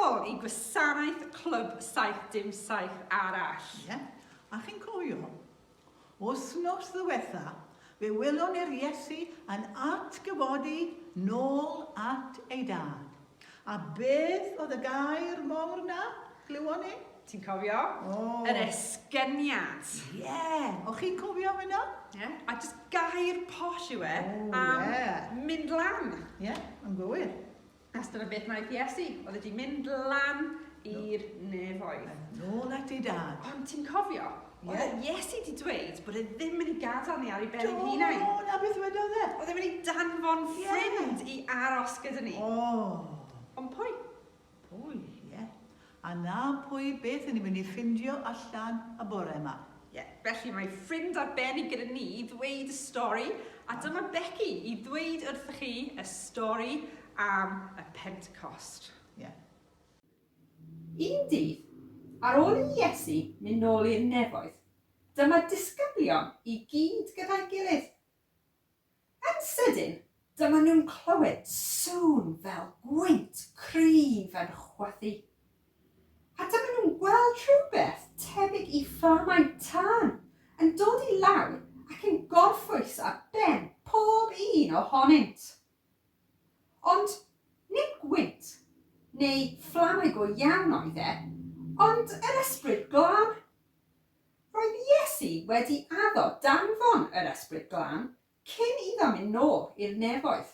nôl i gwasanaeth Clwb 77 arall. Ie, yeah. a chi'n cofio? Wsnos ddiwetha, fe welon ni'r Iesu yn atgyfodi nôl at ei dad. A beth oedd y gair mowr 'na, glywon ni? Ti'n cofio? O! Yr esgyniad. Ie! O'ch chi'n cofio hwnna? Ie. A jyst gair posh yw e am mynd lan. Ie, yn gywir. Achos dyna beth wnaeth Iesu, oedd e 'di mynd lan i'r nefoedd. Nôl at ei dad. Ond ti'n cofio? Ie. Oedd Iesu wedi dweud bod e ddim yn ei gadael ni ar ei ben ein hunain. Do, na beth wedodd e. Oedd e'n mynd i danfon ffrind i aros gyda ni. O! Ond pwy? Pwy, ie. A 'na pwy beth i ni mynd i ffindio allan y bore yma. Ie, felly mae ffrind arbennig gyda ni i ddweud y stori, a dyma Becky i ddweud wrthych chi y stori am y Pentecost. Ie. Un dydd, ar ôl i Iesu mynd nôl i'r nefoedd, dyma disgyblion i gyd gyda'i gilydd. Yn sydyn, dyma nhw'n clywed sŵn fel gwynt cryf yn chwythu. A dyma nhw'n gweld rhywbeth tebyg i fflamau tân yn dod i lawr ac yn gorffwys ar ben pob un ohonynt. Ond nid gwynt, neu fflamau go iawn oedd e, ond yr Ysbryd Glân. Roedd Iesu wedi addo danfon yr Ysbryd Glân cyn iddo mynd nôl i'r nefoedd.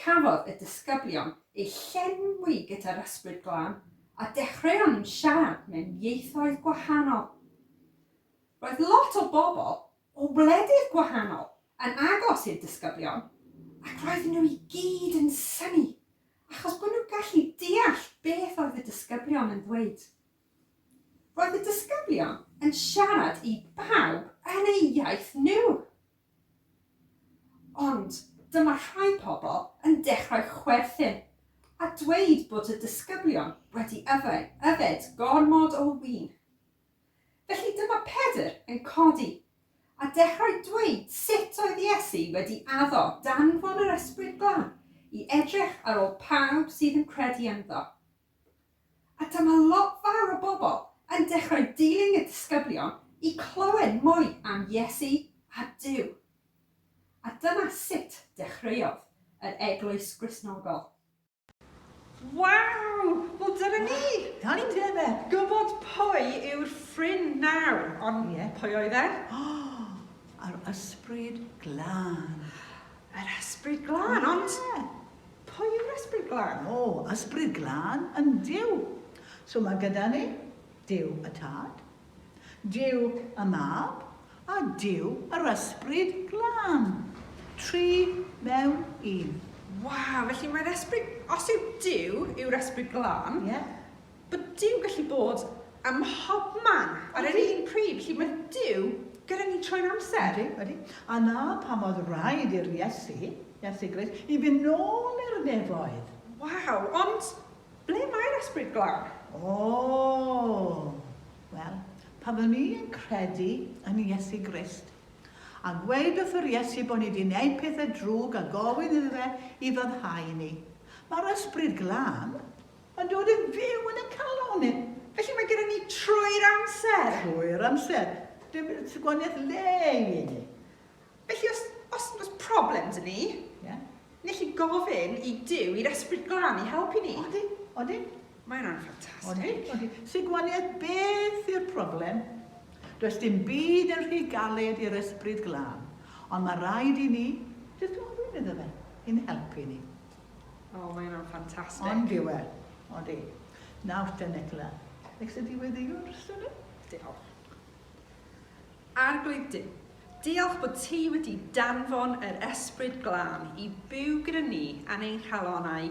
Cafodd y disgyblion eu llenwi gyda'r Ysbryd Glân a dechreuon nhw siarad mewn ieithoedd gwahanol. Roedd lot o bobl o wledydd gwahanol yn agos i'r disgyblion ac roedden nhw i gyd yn synnu achos bod nhw'n gallu deall beth oedd y disgyblion yn ddweud. Roedd y disgyblion yn siarad i bawb yn eu iaith nhw. Ond dyma rhai pobl yn dechrau chwerthin a dweud bod y disgyblion wedi yfed gormod o win. Felly dyma Pedr yn codi, a dechrau dweud sut oedd Iesu wedi addo danfon yr Ysbryd Glân i edrych ar ôl pawb sydd yn credu ynddo. A dyma lot fawr o bobl yn dechrau dilyn y disgyblion i clywed mwy am Iesu a Duw. A dyna sut dechreuodd yr eglwys Gristnogol. Waw! Wel dyna ni! Da ni'n dweud fe! Gwybod pwy yw'r ffrind nawr, ond yeah. pwy oedd e? Yr ysbryd glân. Yr ysbryd glân, yeah. ond pwy yw'r ysbryd glân? O, ysbryd glân yn Dyw. So mae gyda ni Dyw y Tad, Duw y Mab a Duw yr Ysbryd Glân. Tri mewn un. Waw, felly mae'r Ysbryd... Os yw Duw yw'r Ysbryd Glân... Ie. ...bod Duw gallu bod ym mhobman ar yr un pryd, felly mae Duw gyda ni trwy'r amser. Ydy, ydy. A 'na pam oedd raid i'r Iesu, Iesu Grist, i fynd nôl i'r nefoedd. Waw, ond Ble mae'r ysbryd glân? O! Wel, pan o'n i yn credu yn Iesu Grist, a gweud wrth yr Iesu bo' ni 'di neud pethe drwg a gofyn iddo fe i foddhau ni, ma'r ysbryd glân yn dod yn fyw yn 'yn calon ni. Felly mae gyda ni trwy'r amser? Trwy'r amser. Dim gwanieth le i ni. Felly os, os, os problem dyn ni, yeah. ni'n gallu gofyn i Dyw, i'r Esbryd Glân, i helpu ni. Odi, odi. Mae hwnna'n ffantastig. Odi, odi. Sy'n gwaniad beth yw'r problem? Does dim byd yn rhy galed i'r Esbryd Glân, ond mae rhaid i ni jyst gofyn iddo fe i'n helpu ni. O, oh, mae hwnna'n ffantastig. Ond diwe, odi. Nawr te, Nicola. Eich sy'n diweddiwr, sy'n ni? Diolch. Arglwydd Duw, diolch bod ti wedi danfon yr Ysbryd Glân i fyw gyda ni yn ein calonnau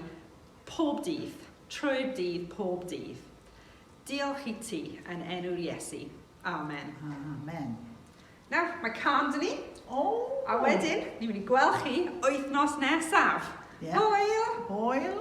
pob dydd, trwy'r dydd, pob dydd. Diolch i ti yn enw'r Iesu. Amen. Amen. Nawr, mae can dyn ni. O! A wedyn, ni'n mynd i gweld chi wythnos nesaf. Yeah. Hwyl! Hwyl!